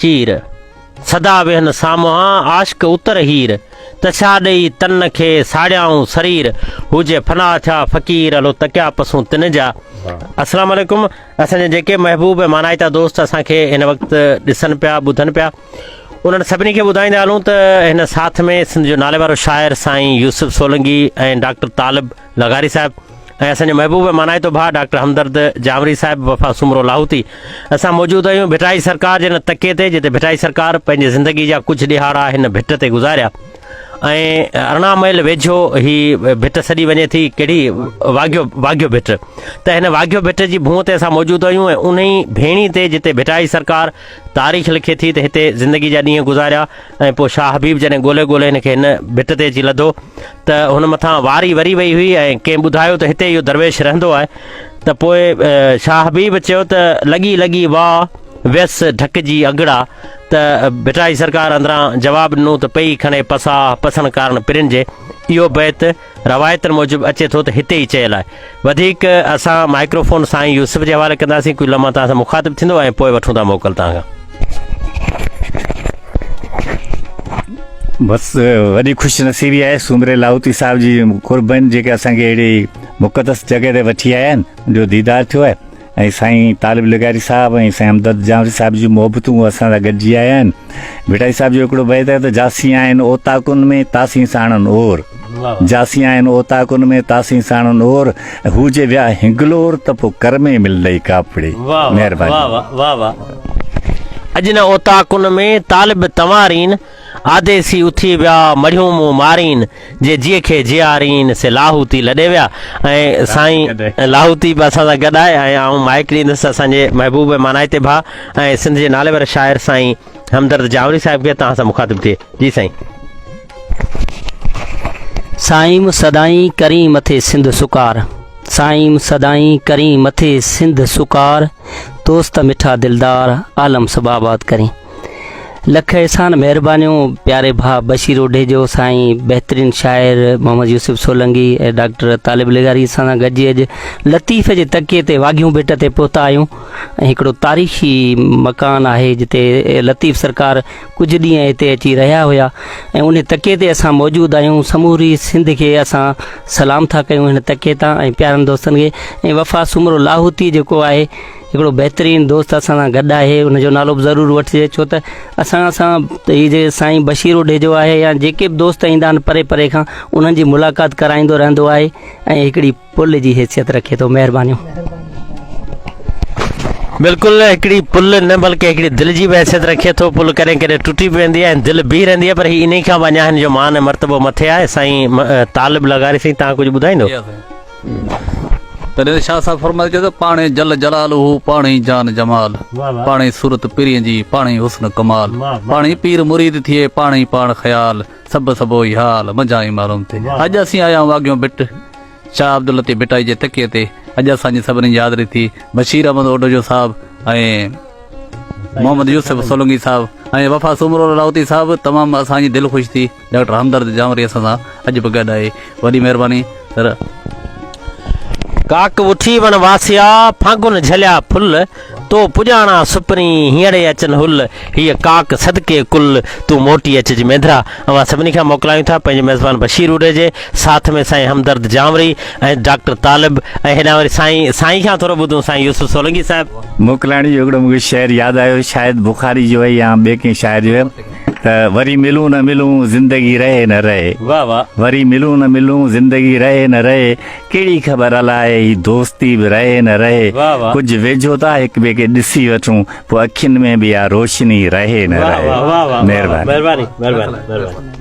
چير، سدا ويهن سامهان عاشق اتر هير، ته ڇا ڏئي تن کي ساڙيائون سرير، هو جي فنا ٿيا فقير هلو تڪيا پسون تن جا. السلام عليڪم اسان جا جيڪي محبوب ۽ مانائتا دوست اسان کي هن وقت ڏسن پيا ٻڌن پيا انهن سڀني کي ٻڌائيندا هلون ته هن ساٿ ۾ سنڌ جو ناليوارو شاعر سائين يوسف سولنگي ۽ ڊاڪٽر طالب لغاري صاحب ۽ اسان جو محبوب مانائتو ڀاء ڊاڪٽر همدرد جانوري صاحب وفا سومرو لاهوتي اسان موجود آهيون ڀٽائي سرڪار جي ان تڪي تي جتي ڀٽائي سرڪار پنهنجي زندگي جا ڪجهه ڏهاڙا هن ڀٽ تي گذاريا ۽ ارڙهن ميل ويجهو هي ڀٽ سڏي وڃي ٿي ڪهڙي واگهيو واگهيو ڀٽ ته هن واگهيو ڀٽ جي ڀونء تي اسان موجود آهيون ۽ انهي ڀيڻي تي جتي ڀٽائي سرڪار تاريخ لکي ٿي ته هتي زندگي جا ڏينهن گذاريا ۽ پوء شاهه حبيب جڏهن ڳولهي ڳولهي هن کي هن ڀٽ تي اچي لڌو ته هن مٿان واري وري وئي هئي ۽ ڪنهن ٻڌايو ته هتي اهو درويش رهندو آهي ته پوء شاهه حبيب چيو ته لڳي لڳي واء ويس ڍڪ جي اگڙا ته ڀٽائي سرڪار اندران جواب ڏنو ته پئي کڻي پساهه پسڻ ڪارڻ پرين جي اهو بيت روايتن موجب اچي ٿو ته هتي ئي چيل آهي وڌيڪ اسان مائڪرو فون سائين يوسف جي حوالي ڪنداسين ڪجهه لمحا توهان سان مخاطب ٿيندو ۽ پوء وٺون ٿا موڪل توهان کان بس وڏي خوش نصيبي آهي سومري لاهوتي صاحب جي قربن جيڪي اسان کي اهڙي مقدس جڳهه تي وٺي آيا آهن جو ديدار ٿيو آهي ۽ سائين طالب لغاري صاحب ۽ سائين همدرد جانوري صاحب جون محبتون اسان سان گڏجي آيا آهن ڀٽائي صاحب جو هڪڙو بيت آهي ته جاسين آهن اوطاقن ۾ تاسين ساڻن اور جاسين آهن اوطاقن ۾ تاسين ساڻن اور هو جي ويا هنگلور ته پو ڪر ۾ ملندئي ڪاپڙي مهرباني واهه واهه واهه واهه اڄ نه اوطاقن ۾ طالب تنوارين آڌي سي اٿي ويا، مڙهيون مون مارين، جي جيء کي جيارين، سي لاهوتي لڏي ويا ۽ سائين لاهوتي به اسان سان گڏ آهي ۽ آئون مائيڪ ڏيندس اسان جي محبوب ۽ مانائتي ڀاء ۽ سنڌ جي ناليوار شاعر سائين همدرد جاوڙي صاحب کي توهان سان مخاطب ٿئي جي سائين. سائيم سدائين ڪرين مٿي سنڌ سڪار سائيم سدائين ڪرين مٿي سنڌ سڪار دوست مٺا دلدار عالم سڀ آباد ڪرين. لک احسان مهربانيون پياري ڀاء بشير اوڍيجو سائين بهترين شاعر محمد يوسف سولنگي ۽ ڊاڪٽر طالب لغاري سان گڏجي اڄ لطيف جي تڪي تي واگهيون ڀٽ تي پهتا آهيون ۽ هڪڙو تاريخي مڪان آهي جتي لطيف سرڪار ڪجهه ڏينهن هتي اچي رهيا هيا ۽ ان تڪي تي اسان موجود آهيون سموري سنڌ کي اسان سلام ٿا ڪيون هن تڪي تان ۽ پيارن دوستن کي ۽ وفا سومرو لاهوتي جيڪو آهي هڪڙو بهترين دوست اسان سان گڏ آهي ان جو نالو به ضرور وٺجي ڇو ته اسان سان هي جي سائين بشير اوڍيجو آهي يا جيڪي به دوست ايندا آهن پري پري کان انهن جي ملاقات ڪرائيندو رهندو آهي ۽ هڪڙي پل جي حيثيت رکي ٿو مهربانيون بلڪل هڪڙي پل نه بلڪه هڪڙي دل جي به حيثيت رکي ٿو پل ڪڏهن ڪڏهن ٽٽي به ويندي آهي دل بيهي رهندي آهي پر هي انهي کان به اڃا هن جو مان ۽ مرتبو مٿي آهي سائين طالب لغاري سائين تهان ڪجهه ٻڌائيندو تڏهن ته شاهه صاحب فرمائي چيو ته پاڻ ئي جل جلال هو پاڻ ئي جان جمال پاڻ ئي صورت پرين جي پاڻ ئي حسن ڪمال پاڻ ئي پير مريد ٿئي پاڻ ئي پاڻ خيال سڀ سڀ اهو ئي حال منجهان ئي معلوم ٿئي اڄ اسين آيا آهيون واگهيون ڀٽ شاهه عبداللطيف ڀٽائي جي تڪيي تي اڄ اسان جي سڀني جي حاضري ٿي بشير احمد اوڊوجو صاحب ۽ محمد يوسف سولنگي صاحب ۽ وفا سومرو لاهوتي صاحب تمام اسان جي دل خوش ٿي ڊاڪٽر همدرد جانوري اسان سان اڄ به گڏ آهي وڏي مهرباني سر. ڪاڪ وٺي وڻ واسيا، ڦاڳن جهليا ڦل، تو پڄاڻان سپرين، هينئڙي اچن هل، هيء ڪاڪ صدقي ڪل، تون موٽي اچج مينڌرا. اوهان سڀني کان موڪلايون ٿا پنهنجي ميزبان بشير روڍي جي ساٿ ۾ سائين همدرد جانوري ۽ ڊاڪٽر طالب ۽ هيڏانهن وري سائين سائين کان ٿورو ٻڌون سائين يوسف سولنگي صاحب. موڪلائڻ جو هڪڙو مونکي شعر ياد آيو شايد بخاري جو هي يا ٻي ڪنهن شاعر جو هي. ته وري ملون نه ملون زندگي رهي نه رهي. واھ واھ وري ملون نه ملون زندگي رهي نه رهي ڪهڙي خبر الاء هي دوستي به رهي نه رهي واھ واھ. ڪجهه ويجهو ٿا هڪ ٻئي کي ڏسي وٺون پوء اکين ۾ به اها روشني رهي نه واھ رهي واھ واھ واھ مهرباني مهرباني مهرباني مهرباني.